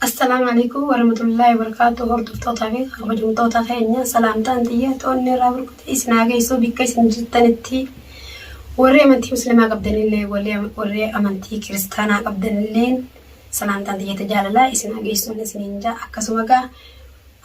Assalaamu Aleeykum Warahmatullaahi Wabarakaatuh Hordoftoota fi kabajamtoota keenya salaamtaan xiyya toonni irraa burkutee isin haa geessu bikka isin jirtanitti warri amantii muslimaa qabdanillee warri amantii kiristaanaa qabdanillee salaamtaan xiyya tajaalalaa isin haa geessuun isiniin jaa akkasuma gaa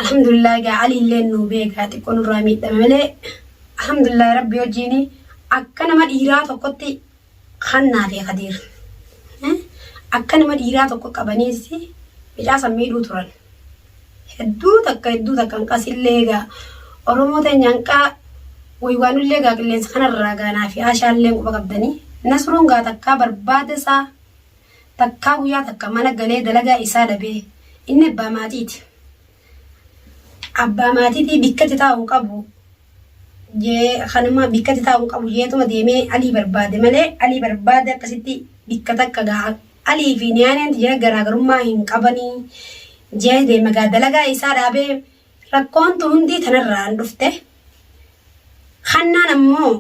alhamdulillah gaa aliillee nuu beekaa xiqqoo nurraa miidhame malee alhamdulillah rabbi hojiini akka nama dhiiraa tokkotti Hannaa fi Kadiir. Akka nama dhiiraa tokko qabaniis mucaa san miidhuu turan. Hedduu takka hedduu takka hanqas illee egaa Oromoo teenya hanqaa waywaanullee egaa qilleensa kanarraa gaanaa fi aashaallee quba qabdanii. Nasruun gaa takkaa barbaada isaa takkaa guyyaa takka mana galee dalagaa isaa dhabee inni abbaa maatiiti. abbaa maatiitii bikkatti taa'u qabu jee kanuma bikkatti taa'u qabu jeetuma deemee alii barbaade malee alii barbaade akkasitti bikka takka gaa alii fi niyaaneen jira garaagarummaa hin qabanii jee deema gaa dalagaa isaa dhaabee rakkoontu hundii tanarraan dhufte kannaan ammoo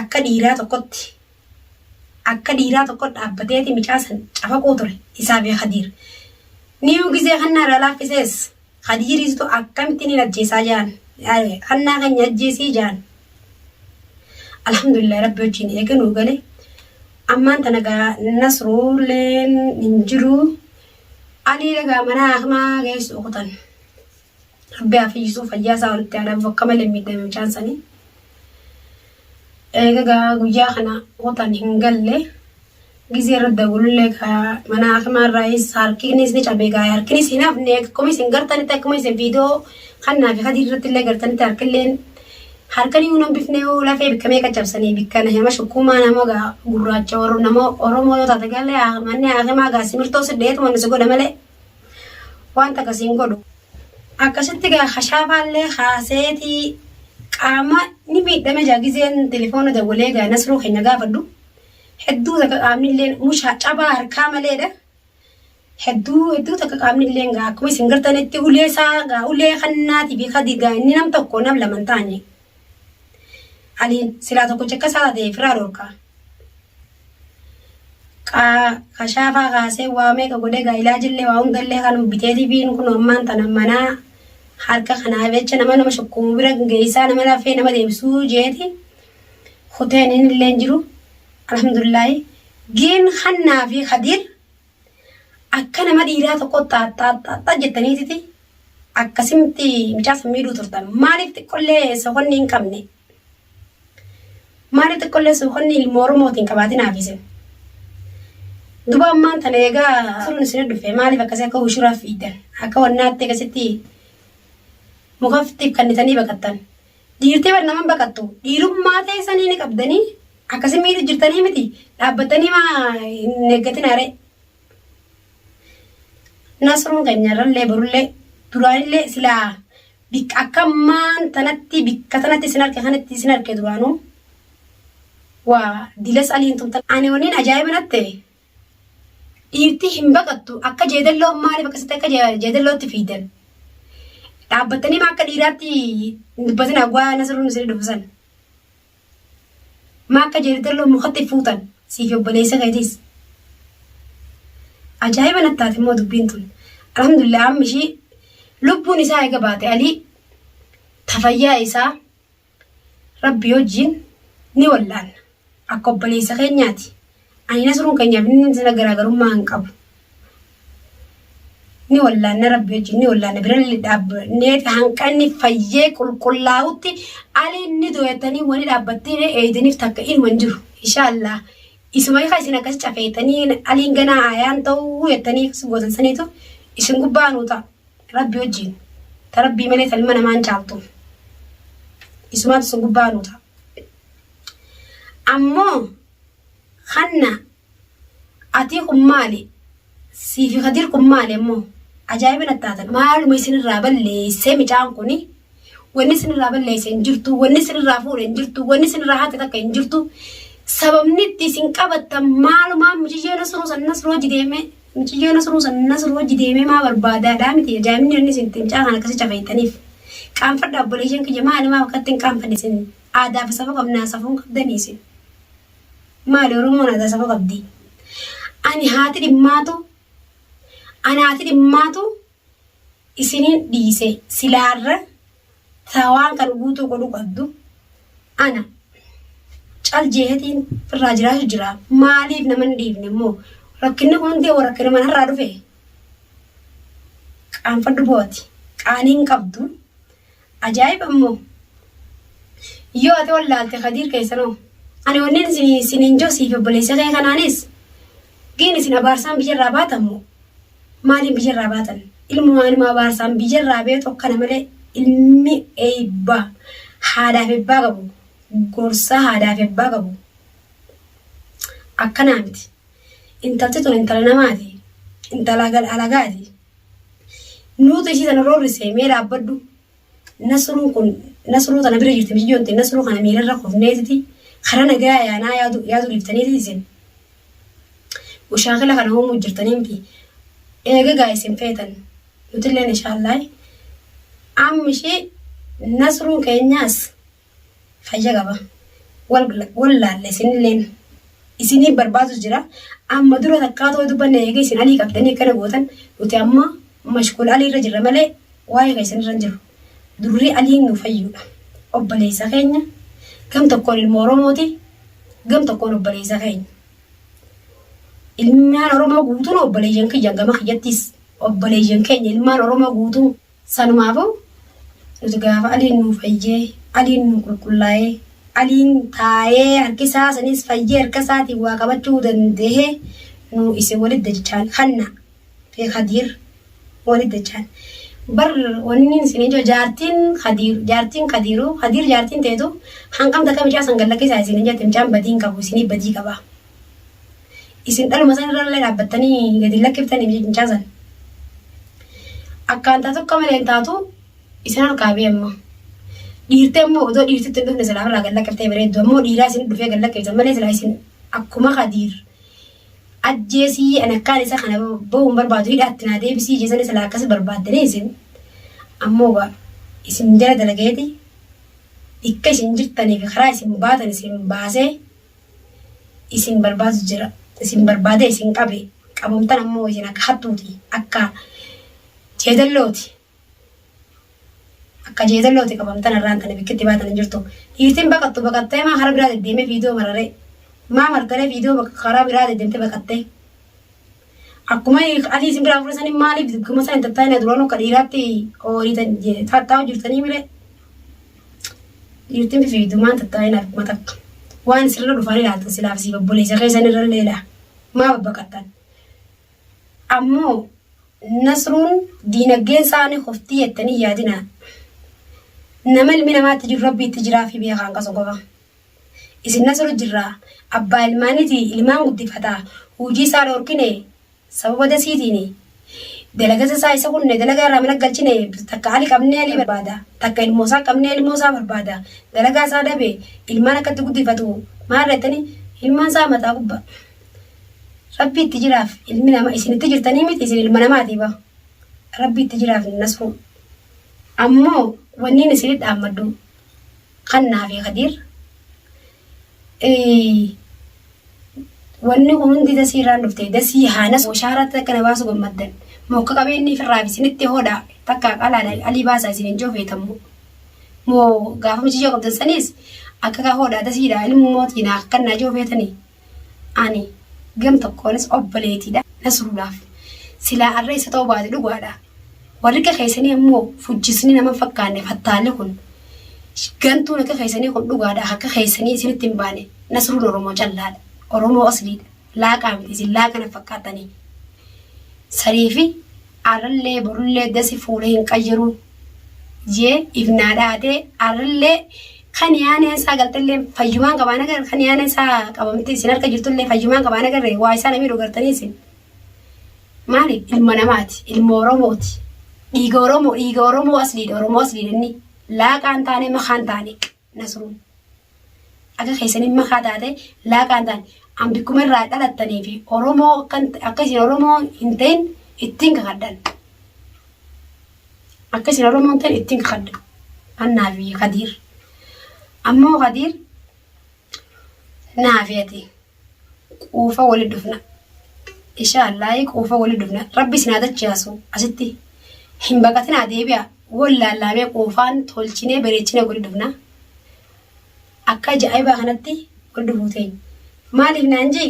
akka dhiiraa tokkotti Akka dhiiraa tokkot dhaabbateeti micaa san cafaquu ture isaa fi Khadiir. Niyuu gizee Hannaa irraa laaffisees Khadiiriitu akkamitti niin ajjeesaa ja'an. Hannaa keenya ajjeesii ja'an. Alhamdulillah Rabbi wajjiin eega nuu gale. Ammaan tana gaa Nasruulleen hin jiru. Aliile gaa manaa hakimaa geessu kutan. Rabbi haa fayyisuu fayyaa isaa walitti haa dhabu akka malee miidhame mucaan sanii. Eega gaa guyyaa kana hotaan hin galle gizee irra dawwalullee gaa mana hakimaa irraayis harkinis ni cabe gaa harkinis hin hafne akkuma isin gartanitti akkuma isin viidiyoo kannaa fi kadii irratti illee gartanitti harkilleen harkan iyyuu nan bifne yoo lafee bikka meeqa cabsanii bikka na hima shukkumaa nama gaa gurraacha oro- nama oromoo yoo taate galee manni hakimaa gaa simirtoo sidheetuma nusi godha malee. Wanta akkasii hin godhu. Akkasitti egaa kashaafaallee kaaseetii qaama ni miidhame jaa gizeen telefoona dawwalee egaa nasruu keenya gaafadhu. Hedduu takka qaamnillee mushaa cabaa harkaa maleedha. Hedduu hedduu takka qaamnillee egaa akkuma isin gartanitti ulee isaa egaa ulee kannaatii fi kadi egaa inni nam tokko nam laman taane. Ani silaa tokko cakka isaa ta'e firaa dhorkaa. Kashaafaa kaasee waa meeqa godhee gaa ilaajillee waa hundallee kan bitee tiviin kun ammaan tana manaa harka kanaa jecha nama nama shukkumu bira geessaa nama lafee nama deebisuu jeeti kuteen inni illee hin jiru alhamdulillaahi giin hannaa fi kadiir Akka nama dhiiraa tokko xaaxxaaxxaaxxa jettaniititi akkasimitti mucaa san miidhuu turtan. Maaliif xiqqollee soqonni hin qabne? Maaliif xiqqollee soqonni ilma Oromooti hin qabaatin haafisin? Duba ammaan tana egaa turuun isin dhufe maaliif akkasii akka hushuraa fiidan? Akka wannaatti akkasitti mukaftiif kannitanii baqattan. Dhiirtee bar naman baqattu dhiirummaa teessanii ni qabdanii akkasi miidhu jirtanii miti dhaabbattanii maa hin eeggatinaa ree. Nasruun keenya irrallee borullee duraanillee silaa bikka akka maan tanatti bikka tanatti isin arke kanatti isin arke duraanuu waa dilas aliin tumtan ani waniin ajaa'iba natte dhiirtii hin baqattu akka jeedalloon maaliif akkasitti akka jeedallootti fiidan dhaabbattanii maa akka dhiiraatti dubbatin hawwaa nasaruu nusanii dubbisan maa akka jeedalloo mukatti fuutan siif obboleessa keetis ajaa'iba nattaati immoo dubbiin tun alhamdulillah amma ishii lubbuun isaa eega baate alii tafayyaa isaa Rabbii wajjiin ni wal'aanna. Akka obboleessa keenyaati. Ani nasruun keenyaaf inni sana garaagarummaa hin qabu. Ni wal'aanna rabbii wajjiin ni wal'aanna birallee dhaabbannee hanqanni fayyee qulqullaa'utti aliin ni dooyattanii wani dhaabbattiin eeydaniif takka inuma hin jiru. Inshaallah isuma hiika isin akkas cafeettanii aliin ganaa aayaan ta'uu jettanii akkas gootan saniitu isin gubbaa nuu ta'a. Rabbi wajjiin. Ta Rabbii malee ta ilma namaa hin caaltu. Isumaatu isin gubbaa nu ta'a. Ammoo kanna atii kun maali? Siifi Kadir kun maali ammoo? Ajaa'iba natti taatan. Maaluma isinirraa balleessee micaan kuni? Wanni isinirraa balleesse hin jirtu. Wanni isinirraa fuudhe hin jirtu. Wanni isinirraa hate takka hin jirtu. Sababni itti isin qabattan maalumaa miciyyoo nasruu san nasruu hojii deemee miciyyoo nasruu san nasruu hojii deemee maa barbaadaadhaa miti ajaa'ibni inni isin ittiin caahan akkasii cafeettaniif. Qaanfadha obboleeyyan kiyya maali maa akkatti hin qaanfanne isin aadaa fi safuu qabnaa safuun qabdanii isin. Maali Oromoon aadaa safuu qabdi. Ani haati dhimmaatu ani haati dhimmaatu isinin dhiise silaa irra taa waan kan guutuu godhu qabdu ana cal jeehetiin irraa jiraatu jira maaliif nama hin dhiifne immoo rakkinni kun hundi rakkina mana irraa dhufe qaanfadhu booti qaaniin qabdu ajaa'iba immoo yoo ati wallaalte kadiir keessanoo ani wanneen siniin josiif obboleessa kee kanaanis giin isin abaarsaan biyyarraa baatamu Maaliin biyya irraa baatan? Ilmoo aanuma abaarsaan biyya irraa ba'e tokko kana malee ilmi eebba haadhaaf ebbaa qabu gorsaa haadhaaf ebbaa qabu akkanaa miti. Intalti tun intala namaati. Intala gal alagaati. Nuutu ishii sana roorrise mee dhaabbadhu. Nasruun kun nasruu tana bira jirti miti jonte nasruu kana miirarra kufneetiti karaa nagaa yaanaa yaadu yaadu dhiftaniiti isin mushaakila kana uumuu jirtanii miti eegagaa isin feetan nutilleen inshaallaah amma ishee nasruun keenyaas fayya qaba wallaalle isinilleen isinii barbaadu jira amma dura takkaa ta'uu dubbanne eega isin alii qabdanii akkana gootan nuti amma mashkuul alii irra jirra malee waa'ee keessan irra hin jiru durri aliin nu fayyuudha obboleessa keenya gam tokkoon ilma oromooti gam tokkoon obboleessa keenya ilmaan oromoo guutuun obboleeyyan kiyyan gama kiyyattis obboleeyyan keenya ilmaan oromoo guutuu Sanuma aboo nuti gaafa Aliin nuu fayyee, Aliin nuu qulqullaa'ee, Aliin taa'ee harki isaa saniis fayyee harka isaatiin waa qabachuu dandahe nuu isin walitti dachaan Hanna fi Kadiir walitti dachaan. Bar wanni isiniin jiru jaartiin Kadiir jaartiin Kadiiruu Kadiir jaartiin teetu hangam takka micaa san gad lakkisaa isiniin jette micaan badii hin qabu isinii badii qaba. Isin dhaluma san irra illee dhaabbattanii gadi lakkiftanii biyya cincaa san. Akkaan taatu akka malee hin taatu isin harkaa bee amma. Dhiirtee immoo odoo dhiirtitti hin dhufne silaa irraa gad lakkiftee bareeddu ammoo dhiiraa isin dhufee gad lakkiftan malee silaa isin akkuma kadiir. Ajjeesii ani akkaan isa kana bahuun barbaadu hidhaatti naa deebisii jeesanii silaa akkas barbaaddanii isin. Ammoo gaa isin jala dalagayeeti dhikka isin jirtanii fi karaa isin baatan isin baasee. isin barbaadu jira isin barbaadee isin qabe qabamtan ammoo isin akka hattuuti akka jeedallooti akka jeedallooti qabamtan irraan tana bikkitti baatan hin jirtu dhiirtiin baqattu baqattee maa karaa biraa deddeemee viidiyoo mararee maa martaree viidiyoo bakka karaa biraa deddeemtee baqattee Akkuma adii isin biraa fudhatan maaliif dirqama isaa hin tattaa'ina duraan akka dhiiraatti oolitan tattaa'u jirtanii malee. Dhiirtiin fifiidumaan tattaa'ina akkuma takka. Waan sirra dhufanii laatan silaaf siif obboleessa keessan irra leela. Maa babbaqatan. Ammoo nasruun diinagdeen isaanii qoftii jettanii yaadinaa. Nama ilmi namaatti jiru rabbiitti jiraa fi beekaan qasu qofa. Isin nasru jirra abbaa ilmaaniti ilmaan guddifata huujii isaa dhoorkine sababa dasiitiini dalagasa isaa isa kunne dalagaa irraa mana galchine takka ali qabnee ali barbaada takka ilmoo isaa qabnee ilmoo isaa barbaada dalagaa isaa dhabe ilmaan akkatti guddifatu maal reettani ilmaan isaa mataa gubba rabbi itti jiraaf ilmi nama isin itti jirtanii miti isin ilma namaati ba rabbi itti jiraaf nasru ammoo wanniin isin dhaammaddu kannaa fi kadiir wanni kun hundi dasii irraan dhufte dasii haanas washaaraatti takka na baasu gammaddan mokka qabeenni firraa fi isinitti hodhaa takka qalaadha alii baasaa isin hin joofeetamu moo gaafama jijoo qabdan saniis akka kaa hodhaa dasiidha ilmu mootii naa kannaa joofeetanii Ani gam tokkoonis obboleetiidha Nasrullaaf. Silaa arra isa ta'uu baate dhugaadha. Warri akka keessanii ammoo fujjisni nama hin fakkaanne fattaalli kun. Gantuun akka keessanii kun dhugaadha akka keessanii isinitti hin baane. Nasruun Oromoo callaadha. Oromoo asliidha. Laaqaa miti isin laaqa na fakkaattanii. Sarii fi Arrallee borullee dasi fuula hin qayyaru jee if naa dhaate arrallee kan yaaneen isaa galtellee fayyumaan qabaan agarre kan yaaneen isaa qabamtee isin harka jirtullee fayyumaan qabaan agarre waa isaa namii dhugartanii isin maali ilma namaati ilma oromooti dhiiga oromoo dhiiga oromoo asliidha oromoo asliidha inni laaqaan taane makaan taane Nasruun. Akka keessaniin makaa taate laaqaan taane. An bikkuma irraa dhalattanii fi Oromoo akka isin Oromoo hin ta'in ittiin kakadhan. Akka isin Oromoo hin ta'in ittiin kakadhan. Annaa fi Kadiir. Ammoo Kadiir naa fi ati quufa wali dhufna insha allahi quufa wali dhufna rabbi isin haa dachaasu asitti hin baqatinaa deebi'a wal laallaamee quufaan tolchinee bareechinee wali dhufna akka ajaa'ibaa kanatti wal dhufuu teenya maaliif naan jee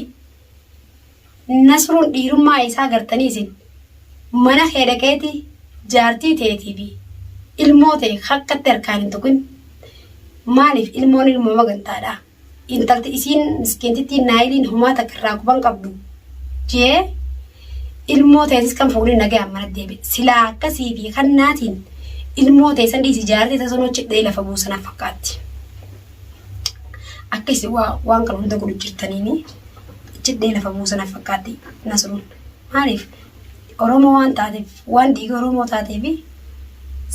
nasruun dhiirummaa isaa gartanii isin mana kee dhaqeeti jaartii teetii fi ilmoo ta'e hakkatti harkaan hin tuqin maaliif ilmoon ilmoo magantaadhaa intalti isiin miskiintittiin Naayiliin homaa takka irraa quba hin qabdu jee ilmoo tee risqan fuunee nagayaan mana deebi silaa akkasii fi kannaatiin ilmoo tee san dhiisi jaartii tee sanoo cidhee lafa buusanaaf fakkaatti akka isin waa- waan kana hunda godhu jirtaniini cidhee lafa buusanaaf fakkaatti nasruun maaliif oromoo waan taateef waan dhiiga oromoo taateefi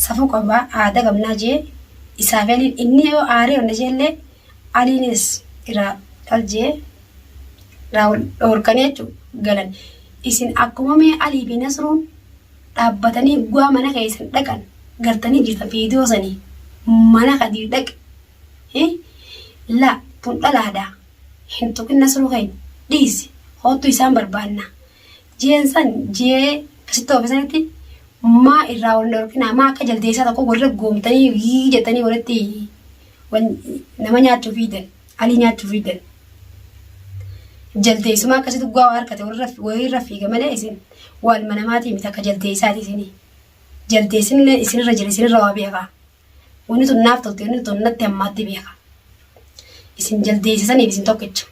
safuu qabaa aadaa qabnaa jee Isaabeliin inni yoo aaree wanna jeellee aliinis iraa dhal jee iraa wal dhoorkanii jechu galan isin akkuma mee alii fi nasruun dhaabbatanii guwaa mana keessan dhaqan gartanii jirta viidiyoo sanii mana kadiir dhaqe hi la tun dhalaadha hin tuqin nasruu keenya dhiisi hoottu isaan barbaanna Ji'een san ji'ee kasitti oofe sanitti maa irraa wal dhorkinaa maa akka jaldeessaa tokko walirra goomtanii yii jettanii walitti wal nama nyaachuu fiidan alii nyaachuu fiidan. Jaldeessuma akkasitti dhugaa waa harkate walirra walirra fiiga malee isin waalma namaatii miti akka jaldeessaati isinii. Jaldeessinillee isinirra jira isinirra waa beekaa. Wanni tun naaf tolte, wanni tun natti hammaatti beeka. Isin jaldeessisaniif isin tokkicha.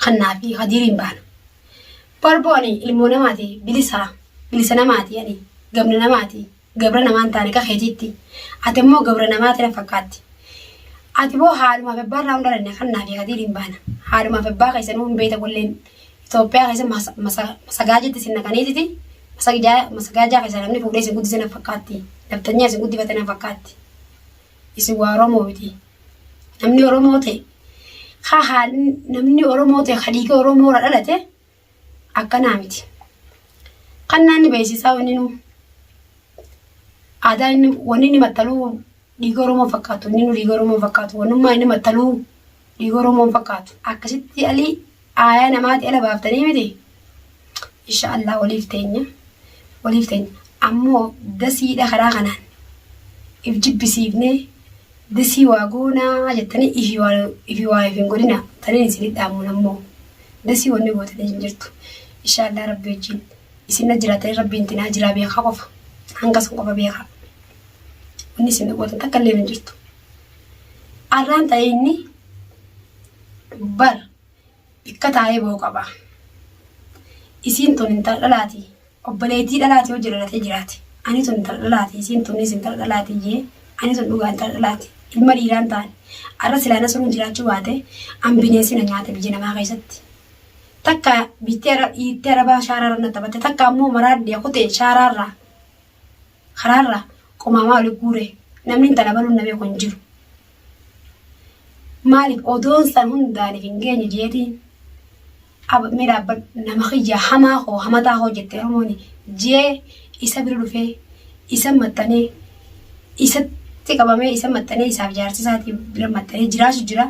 Kannaa fi hadiiriin baana. Barboo ani ilmoo namaati bilisaa, bilisa namaati ani gamna namaati, gabra namaan taane ka keetiitti. Ati immoo gabra namaati na fakkaatti. Ati boo haalumaaf abbaa irraa hundalanne kannaa fi hadiiriin baana. Haalumaaf abbaa keessanuu hin beekta walleen. Itoophiyaa keessa mas- masa- masagaajitti isin naqaniititi masagijaa masagaajaa keessa namni fuudhee isin guddise na fakkaatti nafxanyaa isin guddifate na fakkaatti isin waa oromoo miti namni oromoo ta'e ha haa namni oromoo ta'e hadiiga oromoo irra dhalate akkanaa miti kan naanni beeksisaa wanni nu aadaa inni wanni inni maxxaluu dhiiga oromoo fakkaatu inni nu dhiiga oromoo fakkaatu wannummaa inni maxxaluu Dhiiga Oromoo hin fakkaatu. Akkasitti alii aayaa namaati ala baaftanii miti. Insha Allah waliif teenya. Waliif teenya. Ammoo dasiidha karaa kanaan. If jibbisiifnee dasii waa goonaa jettanii ifi waa ifi waa if hin godhina. Taniin isinii dhaamuun ammoo. Dasii wanni gootanii hin jirtu. Insha Allah rabbi wajjin. Isinna jiraatanii rabbiin tinaa jiraa beekaa qofa. Hanga sun qofa beekaa. Wanni isin gootan takka illee hin jirtu. Arraan xa'iinni bar bikka taa'ee ba'uu qaba. Isiin tun intala dhalaati. Obboleettii dhalaati yoo jalalatee jiraate. Ani tun intala dhalaati. Isiin tunis intala dhalaati jee. Ani tun dhugaa intala dhalaati. Ilma dhiiraan taane. Arra silaa nasruun jiraachuu baate an bineensi na nyaate biyya namaa keessatti. Takka biittee ara- dhiittee arabaa shaaraarra na taphatte. Takka ammoo maraaddiya kutee shaaraarraa. karaarraa qomaamaa wali guuree namni intala baluun na beeku hin jiru. Maaliif odoon san hundaaniif hin geenye jeetiin mee dhaabbadhu nama kiyya hamaa koo hamataa koo jettee Oromooni jee isa bira dhufee isa maxxanee isatti qabamee isa maxxanee isaaf jaarsisaati bira maxxanee jiraasu jira.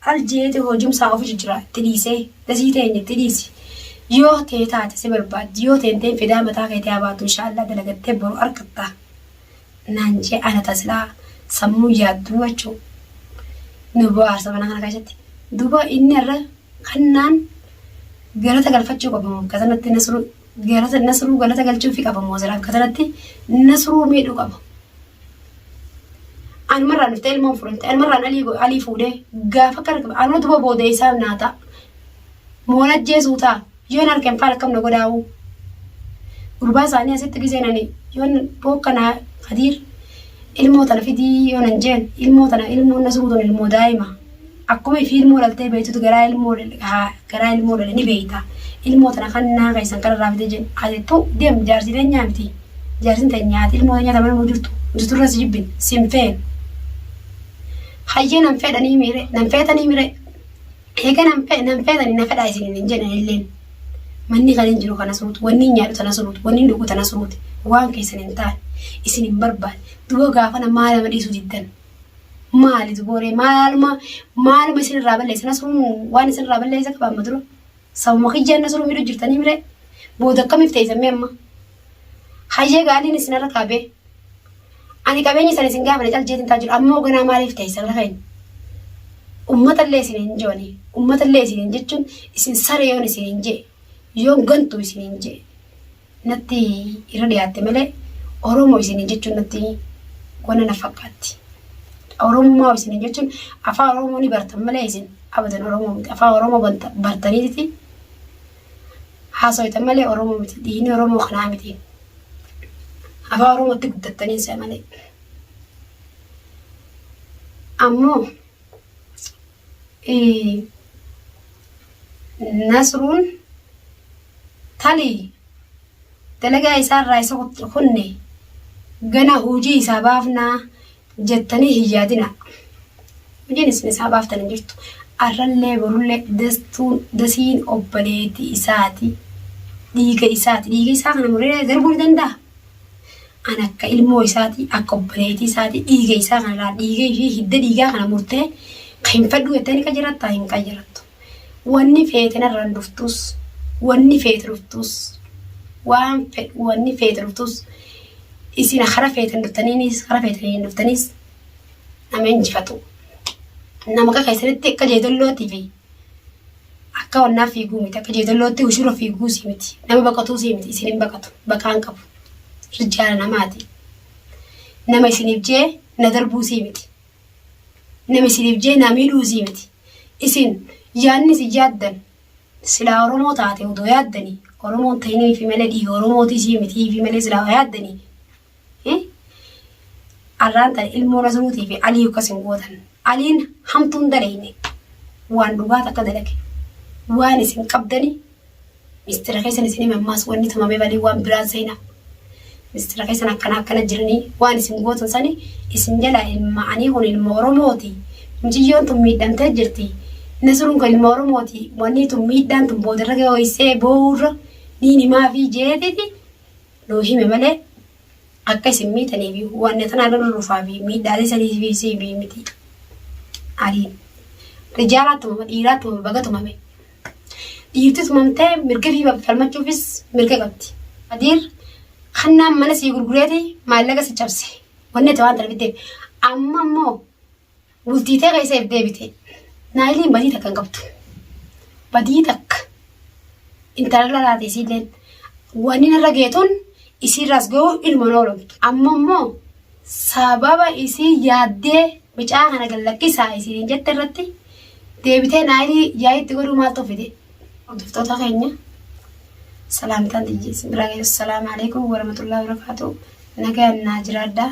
Cal jeete hojumsaa ofi jijjiraa itti dhiisee dasii teenya itti dhiisi yoo tee taate si barbaaddi yoo tee hin ta'in fidaa mataa keetii haa baatu inshaa Allah dalagattee boru argatta naan jee ana ta silaa sammuu yaadduu jechuu nu bohaarsa mana kana keessatti duba inni irra kannaan galata galfachuu qabamu akka sanatti nasruu galata nasruu galata galchuufi qabamu asiraan akka sanatti nasruu miidhuu qaba. Anumarraa dhuftee ilmoon fudhatte. Anumarraan alii, alii fuudhee gaafa akka rakkifa. Anuu duba booda isaan naa ta'a. Moon ajjeesuu ta'a. Yoon harkeen faal akkam na godhaa'uu. Gurbaa isaanii asitti giseen ani yoon bookka naa kadiir ilmoo tana fidii yoon hin jeen ilmoo tana ilmoon na suutuun ilmoo daa'ima. Akkuma ifii ilmoo dhaltee beeytutu garaa ilmoo garaa ilmoo dhale ni beeyta. Ilmoo tana kan naa keessan kan irraa fide jedhe haa jettu deem jaarsi teenyaa miti. Jaarsin teenyaa ati ilmoo teenyaa tamanuu jirtu jirtu irra si jibbin si hin feenu. Hayyee nan fedhanii miire nan feetanii miire eega nan fe nan feetanii na fedhaa isin hin jedhan illeen. Manni kan hin jiru kana suutu wanni hin nyaadhu tana suutu wanni hin dhugu tana suuti waan keessan hin taane isin hin barbaade duba gaafana maal nama dhiisu diddan. Maali zubooree maaluma maaluma isin irraa balleessa nasruun waan isin irraa balleessa qaba amma dura. Sabuma kiyyaan nasruun midhu jirtanii mire booda akkamiif teessan mee amma. Hayyee gaaliin isin irra kaabee. Ani qabeenya isan isin gaafane caljeetiin taa jiru amma hoganaa maaliif teessan irra keenya. Ummata illee isin hin joone ummata illee isin hin jechuun isin sare yoon isin hin jee yoon gantu isin hin jee. natti irra dhiyaatte malee Oromo isiniin jechuun natti wanna na fakkaatti. Oromummaa isiniin jechuun afaa Oromoo ni bartan malee isin abadan Oromoo miti. Afaa Oromoo banta- bartaniiti haasoytan malee Oromoo miti. Dhiigni Oromoo kanaa miti. Afaa Oromootti guddattanii isa malee. Ammoo Nasruun tali dalagaa isaa irraa isa kunne gana hojii isaa baafnaa jettanii hin yaadina. Hojiin isin isaa baaftan hin jirtu. Arrallee borullee dastuun dasiin obboleetii isaati. Dhiiga isaati. Dhiiga isaa kana muree darbuu ni danda'a. An akka ilmoo isaati, akka obboleetii isaati, dhiiga isaa kana laal, dhiiga ishii hidda dhiigaa kana murtee ka hin fedhu jettee ni qajirattaa hin qajirattu. Wanni feete narraan dhuftuus, wanni feete dhuftuus, waan fedhu wanni feete dhuftuus, isin kara feetan dhuftaniinis, kara feetan hin dhuftaniis nama injifatu. Nama akka keessanitti akka jeedallootii fi Akka wannaa fiiguu miti. Akka jeedallootti ushura fiiguusii miti. Nama baqatuusii miti. Isin hin baqatu. Baqaan qabu. Irjaala namaati. Nama isiniif jee na darbuusii miti. Nama isiniif jee na miidhuusii miti. Isin yaadni isin yaaddan silaa Oromoo taate odoo yaaddanii Oromoon ta'iniifi malee dhiiga Oromootiisii mitiifi malee silaa yaaddanii Arraan tan ilmoo Nasruutii fi Alii akkas hin gootan. Aliin hamtuu hin daleyne. Waan dhugaa takka dalage. Waan isin qabdani mistira keessan isin hime ammaas wanni tumame balii waan biraan seena. Mistira keessan akkana akkana jiranii waan isin gootan sani isin jalaa ilma anii kun ilma Oromooti. Mucayyoon tun miidhamtee jirti. Nasruun kun ilma Oromooti. Wanni tun miidhaan tun boodarra gahee ho'isee boo'uurra niin himaa fi jeetiti nuu hime malee akka isin miitanii fi wanna tanaa lola lufaa fi miidhaalee sanii fi si himee miti. Aliin rijaalaa tumama dhiiraa tumama baga tumame. Dhiirti tumamtee mirga fi falmachuufis mirga qabdi. Adiir kannaan mana sii gurgureeti maallaqa si cabse. Wanni ta'u waan tana bitteef. Amma immoo Bultii tee keessa if deebite. Naayiliin badii takka hin qabdu. Badii takka. Intalalla laate isiilleen. Wanni narra geetuun isiirraas ga'u ilma noolamtu. Amma immoo sababa isii yaaddee mucaa kana gad lakkisaa isiin jette irratti deebitee naayilii yaa'itti godhuu maal tolfite? Hordoftoota keenya salaamtaan tiyya isin biraa geessu salaamu alaikum warahmatullahi wabarakatuh. Nagaan naa jiraadhaa.